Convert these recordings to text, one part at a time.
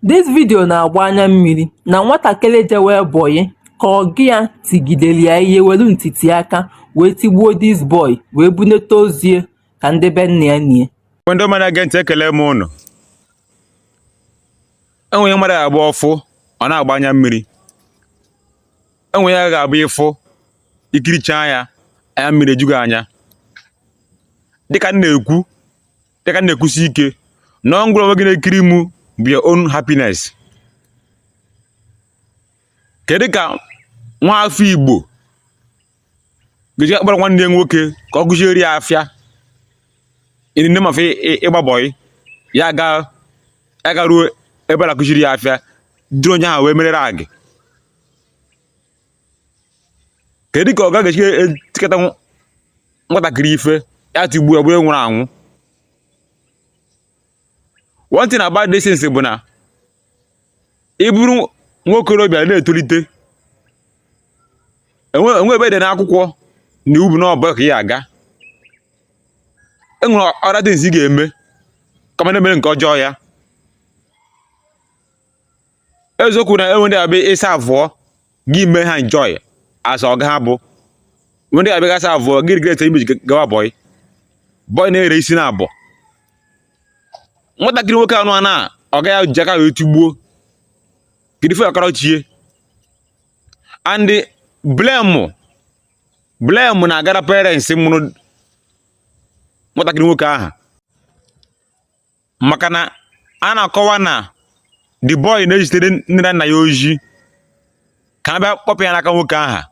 This video na-agba anya mmiri na nwatakịrị jewe bọyị ka ọga ya tigidere ya ihe welu ntiti aka wee tigbuo this boy wee bunete ozu ya ka ndị be nna ya nie. Ndị ọma na-ege ntị ekele m ụnụ. Enwere ihe mmadụ ga-abụ ọ fụ ọ na-agba anya mmiri. Enwere ihe ga-abụ ị fụ ị kiricha ya anya mmiri eju gị anya. Dịka m na-ekwu dịka na-ekwusi ike na ọ ngwụrụ onwe gị na-ekiri mụ bụ your own happiness kedu ka nwa afọ igbo ga-eji akpọrọ nwanne ya nwoke ka ọ kụziere ya afịa in the name of ịgba bọị ya ga ya garuo ebe a na-akụziri ya afịa ụdịrị onye ahụ wee merere agị kedu ka ọga ga-esi etikata nwatakịrị ife ya tigbuo ya bụrụ nwụrụ anwụ one thing about this things bụ na ị bụrụ nwa okorobịa na-etolite enwe enwe ebe e dere n'akwụkwọ na iwu bụ na ọ bụ bọị ka ị ga-aga e nwere other things ị ga-eme kama na-emere nke ọjọọ ya eziokwu na enwe ndị ọ bụ ị serve-ụọ gị mee ha enjoy as ọga ha bụ enwe ndị ọ bụ ị ga serve-ụọ gị regret ihe mere i ji gawa bọị bọị na-ere isi na abụọ nwatakịrị nwoke anụ a na ọga ya ji aka wee tigbuo kedu ife ọ kọrọ chi ya and blame blame na-agara parents mụrụ nwatakịrị nwoke ahụ maka na a na-akọwa na the boy na-ezitere nne na nna ya ozi ka a bịa kpọpụ ya n'aka nwoke aha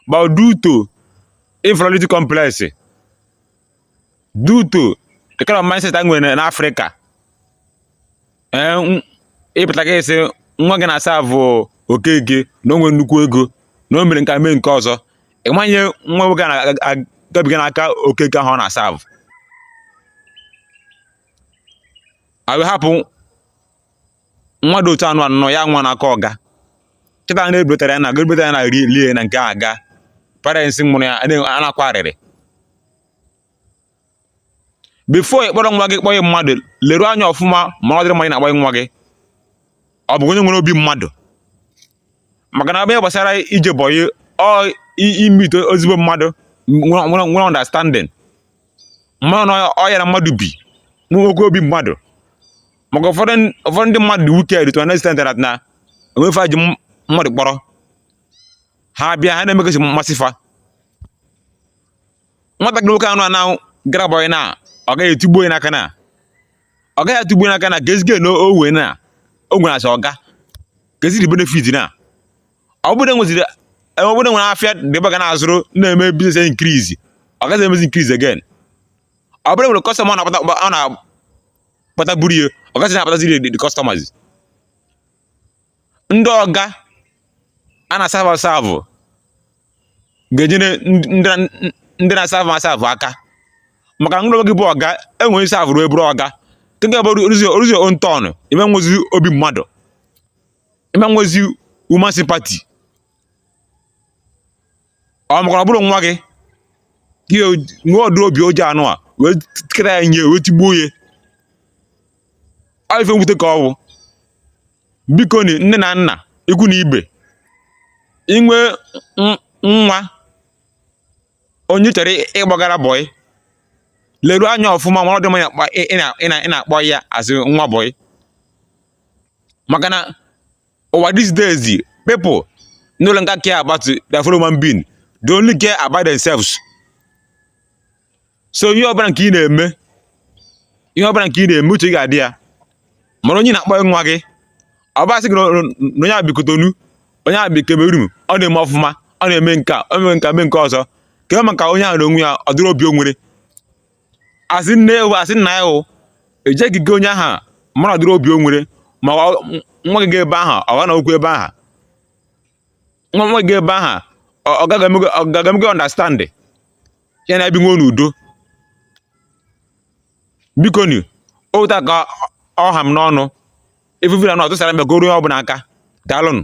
but due to inferiority complex due to the kind of mindset a nwere n'afrịka ee ịpụta ka a sị nwa gị na-aserve-ụ okeke na o nwere nnukwu ego na o mere nke a mee nke ọzọ ị ma ihe nwa nwoke na-agabiga n'aka okeke ahụ ọ na-aserve-ụ a wee hapụ nwa dị otu anụ a nọ ya nwụọ n'aka ọga kịta na-ebutara ya na ga-ebutara ya na ri lie na nke a ga parents mụrụ ya a na-akwa arịrị before ị kpọrọ nwa gị kpọnye mmadụ leruo anya ọfụma ma ụdịrị mmadụ ị na-akpọnye nwa gị ọ bụ onye nwere obi mmadụ maka na ebe gbasara ije bọyị ọ ị meet-e ezigbo mmadụ nwere understanding ma na ọ ya na mmadụ bi nwekwa obi mmadụ maka ụfọdụ ụfọdụ ndị mmadụ dị wicked to an extent that na enwe ife fa ji mmadụ kpọrọ ha bịa ha na-emegasị mmasị fa nwatakịrị nwoke anụ na gara bọyị na ọ gaghị etigbu ya n'aka na ọ gaghị atụgbu n'aka na ka ezigbo na owe na o nwere as ọga ka ezigbo benefit na ọ bụrụ nweziri e, ọ bụrụ nwere afịa dịba ga na-azụrụ na-eme business increase ọ gaghị emezi increase again ọ bụrụ nwere customer ọ na-akpataburu ya ọ gaghị na-akpataziri the customers ndị ọga a na-asavụ asavụ ga-enyere ndị na-asavụ asavụ aka maka na ngị onwe gị bụ ọga e nwere ị savụrụ wee bụrụ ọga nke bụ o ruzi own turn ị ma nwezi obi mmadụ ị ma nwezi human sympathy ọ maka na ọ bụrụ nwa gị gị nwee ụdịrị obi oji anụwa wee tikere ya nye wee tigbuo ya ọ ife mwute ka ọ bụ biko ni nne na nna ikwu na ibe i nwee n- nwa onye ị chọrọ ị- ịkpọgara bọyị leruo anya ọfụma ma ọ dị mma ị na-akpọ- ị- ị na- ị na- ị na-akpọ ya as nwa bọyị maka na ụwa these days people no longer care about their fellow human being they only care about themselves so ihe ọbụla nke ị na-eme ihe ọbụla nke ị na-eme uche ga-adị ya mara onye ị na-akpọnye nwa gị ọ bụ a sị gị na onye a bi Cotonou onye a bi Cameroon ọ na-eme ọfụma ọ na-eme nke a o mee nke a mee nke ọzọ kee maka onye ahụ n'onwe ya ụdịrị obi o nwere as in ewu as in na ya ewu ejeghị gị onye ahụ mara ụdịrị obi o nwere ma nwa gị ga ebe ahụ ọ ga-anọkwu ebe ahụ nwa nwa gị ga ebe ahụ ọ gaghị eme ọ gaghị eme gị understand ya na ebiwe n'udo biko ni otu a ka ọ ha m n'ọnụ ifufe na ọtụsara mbe goro onye ọbụla aka daalụnụ